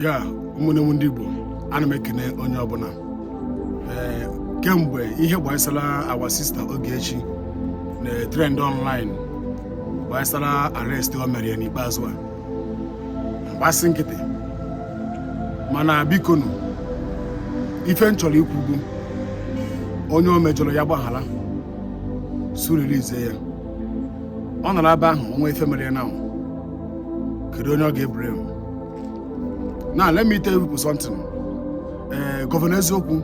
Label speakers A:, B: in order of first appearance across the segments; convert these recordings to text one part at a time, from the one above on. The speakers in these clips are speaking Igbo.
A: ya ụmụnne m ndị Igbo ana m ekene onye ọbụla ee kemgbe ihe gbasara our sister Ogechi na trend online gbasara arrest o mere ya n'ikpeazụ a m gbasị nkịtị mana bikonu ife m chọrọ ikwu bụ onye o mejọrọ ya gbaghara so release ya ọ nọrọ ebe ahụ o nwee ife mere ya now kedu onye ọ ga-eblame now let me tell you something ee eh, gọvanọ eziokwu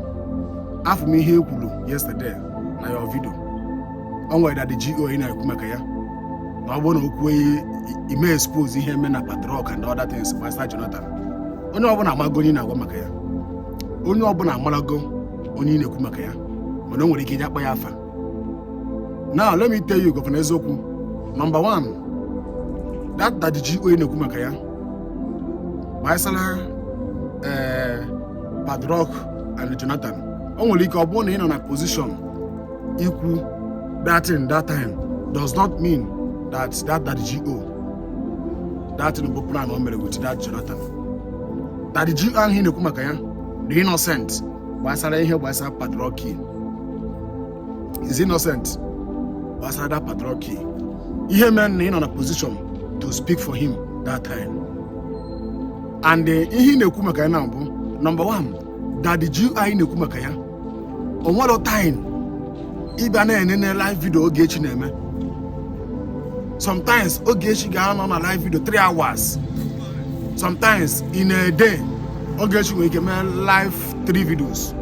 A: afụ m ihe i kwuru yesterday na your video o nwere daddy GO ị na-ekwu maka ya na ọ bụrụ na o kwuo ime expose ihe e me na padlock and other things gbasara Jonathan onye ọbụla amarago onye ị na-agwa maka ya onye ọbụla amarago onye ị na-ekwu maka ya mana o nwere ike iji akpa ya afa now let me tell you gọvanọ eziokwu number one that daddy GO ị na-ekwu maka ya gbasara ee eh, padlock and Jonathan o nwere ike ọ bụrụ na ị nọ na position ikwu that thing that time does not mean that that daddy GO that thing bụ plan o mere with that Jonathan daddy GO ahụ ị na-ekwu maka ya dị innocent gbasara ihe gbasara padlock is innocent gbasara that padlock key ihe mere na ị nọ na position to speak for him that time and eh, ihe ị na-ekwu maka ya now bụ number 1 daddy GO anyị na-ekwu maka ya o nwere time ịbịa na-enene live video Ogechi na-eme sometimes Ogechi ga-anọ na live video 3 hours sometimes in a day Ogechi nwere ike mee live three videos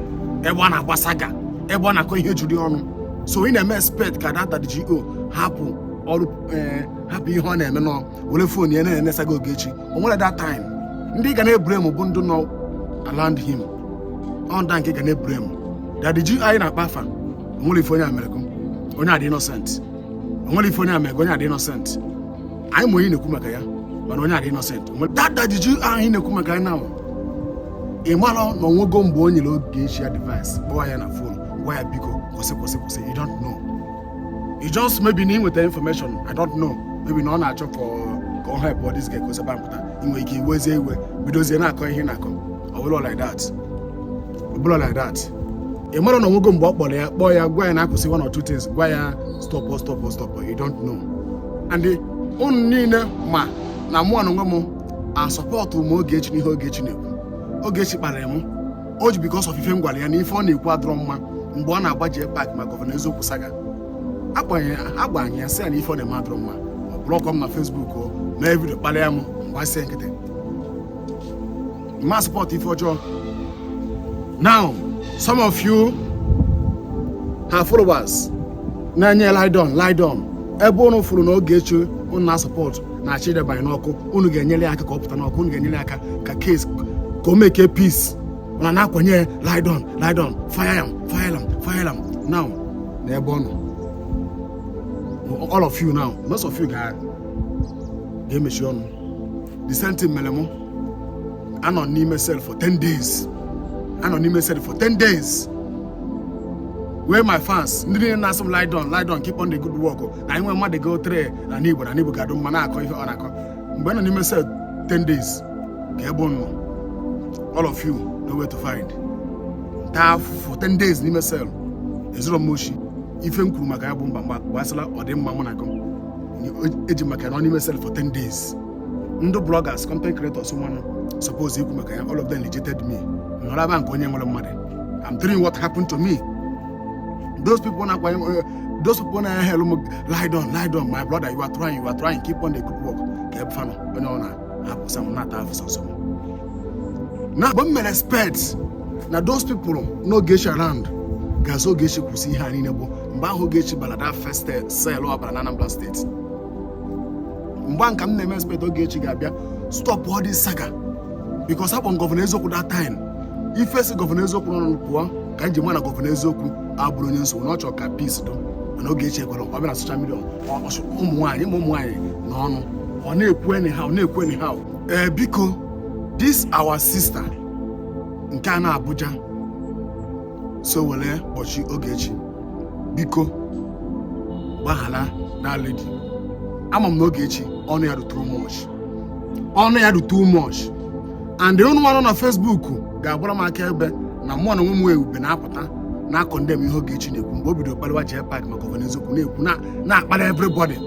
A: ebe ọ na-agba saga ebe ọ na-akọ ihe juru ọnụ so ị na-eme expect ka that daddy GO hapụ ọrụ eh, hapụ ihe ọ na-eme nọ were phone ya na-ene saga Ogechi o nwere that time ndị ị ga na-eblame bụ ndị nọ around him ọ ndị a ka ị ga na-eblame daddy GO anyị na-akpa afa onwere ife onye a merekwa onye a dị innocent onwere ife onye a merekwa onye a dị innocent anyị ma onye na-ekwu maka ya mana onye a dị innocent Onwere- that daddy GO anyị na-ekwu maka ya now ị mara na onwego mgbe o nyere Ogechi advice kpọọ ya na phone gwa ya biko kwụsị kwụsị kwụsị you don't know you just maybe na i nweta information i don't know maybe na ọ na-achọ ka ọ- ka ọ helpụọ this girl ka o si ebe ahụ pụta ị nwere ike iwezie iwe bidozie na-akọ ihe ị na-akọ ọ bụrọ like that ọ bụrọ like that ị mara na onwego mgbe ọ kpọrọ ya kpọọ ya gwa ya nya kwụsị one or two things gwa ya stop stop stop you don't know and ụnụ niile ma na mụ na onwe m asọpọtụ m Ogechi n'ihe Ogechi na-ekwu Ogechi kparịrị m o ji because of ife m gwara ya na ife ọ na-ekwu adịrọ mma mgbe ọ na-agba jee pak ma Governor Eziokwu saga agbanye ya sị ya na ife ọ na-eme adịrọ mma ọ blọkọ m na Facebook o mee video kparịa m m gbachie nkịtị ma support ife ọjọọ now some of you her followers na-enye ride on ride on ebe ụnụ fụrụ na Ogechi ụnụ na-asupport na-achọ ịdabanye n'ọkụ unu ga-enyere ya aka ka ọ pụta n'ọkụ unu ga-enyere ya aka ka case ka o make peace unu na-akwanye ya ride on ride on fire am fire am fire am now na ebe ọ nọ all of you now most of you ga- ga-emechi ọnụ the same thing mere mụ anọ n'ime cell for 10 days anọ n'ime cell for 10 days where my fans ndị niile na-asị m ride on ride on keep on the good work na anyị nwee mmadụ go three n'anị Igbo na anị Igbo ga-adụ mma na-akọ ihe ọ na-akọ mgbe m nọ n'ime cell 10 days kee ebe unu nọ all of you nowhere to find taa afụfụ 10 days n'ime cell ezurọ m oshi ife m kwuru maka ya bụ mba mgba gbasara ọdịmma mụ na gị eji maka nọ n'ime cell for 10 days ndị bloggers content creators mmanụ suppose ikwu maka ya all of them rejected me nọrọ eba ka onye enwerọ mmadụ I'm telling you what happened to me those people na-akwanye those people na-ahail mụ ride on ride on my brother you are trying you are trying keep on the good work kee ebe fa nọ onye ọ na-abụ sọ m na-ata afụfụ sọsọ m na mgbe m mere expect na those people nọ Ogechi around ga-asị Ogechi kwụsị ihe a niile bụ mgbe ahụ Ogechi bara that first cell ọ bara na Anambra State mgbe ahụ ka m na-eme expect Ogechi ga-abịa stop all this saga because upon Governor Eziokwu that time ife si Governor Eziokwu n'ọnụ pụọ ka m ji ma na Governor Eziokwu abụrọ onye nsogbu na ọ chọrọ ka peace dị mana Ogechi ekwerọ ọ bịa na social media ụmụ nwaanyị ụmụ nwaanyị na ọnụ ọ na-ekwu anyhow na-ekwu anyhow ee eh, biko this our sister nke a nọ Abuja so were kpọchie Ogechi biko gbaghara that lady ama m na Ogechi ọnụ ya dụ too much ọnụ ya dụ too much and unu nwa nọ na Facebook ga-agbara m akaebe na mụ na onwe m wee ube na-apụta na-acondemn ihe Ogechi na-ekwu mgbe o bidoro kpaliwa jee pak maka Governor Eziokwu na-ekwu na- na-akpara everybody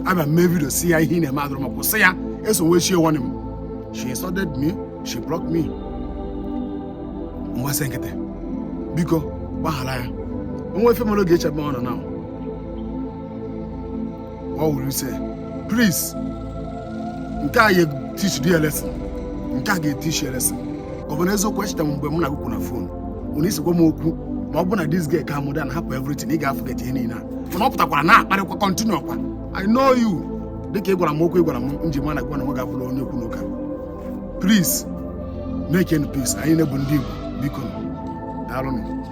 A: abịa m mee video sị ya ihe ị na-eme adụrọ mma kwụsị ya eso Ogechi nwanne m she insulted me she blocked me m gbachie nkịtị biko gbaghara ya o nwee ife mere Ogechi ebe ọ nọ na ọ wụrụ ise please nke a ga-etichi di ya lesson nke a ga-etichi ya lesson gọvanọ eziokwu echeta m mgbe m na-ekwu okwu na phone unu isikwa m okwu ma ọ bụ na this guy calm down hapụ everything ị ga-aforget ihe niile a mana ọ pụtakwara na-akparịkwa continue ọkwa i know you dịka ị gwara m okwu ị gwara m nji ma na gwa na nwa ga-abụrụ onye okwu n'ụka please make any peace anyị niile bụ ndị igbo biko daalụnụ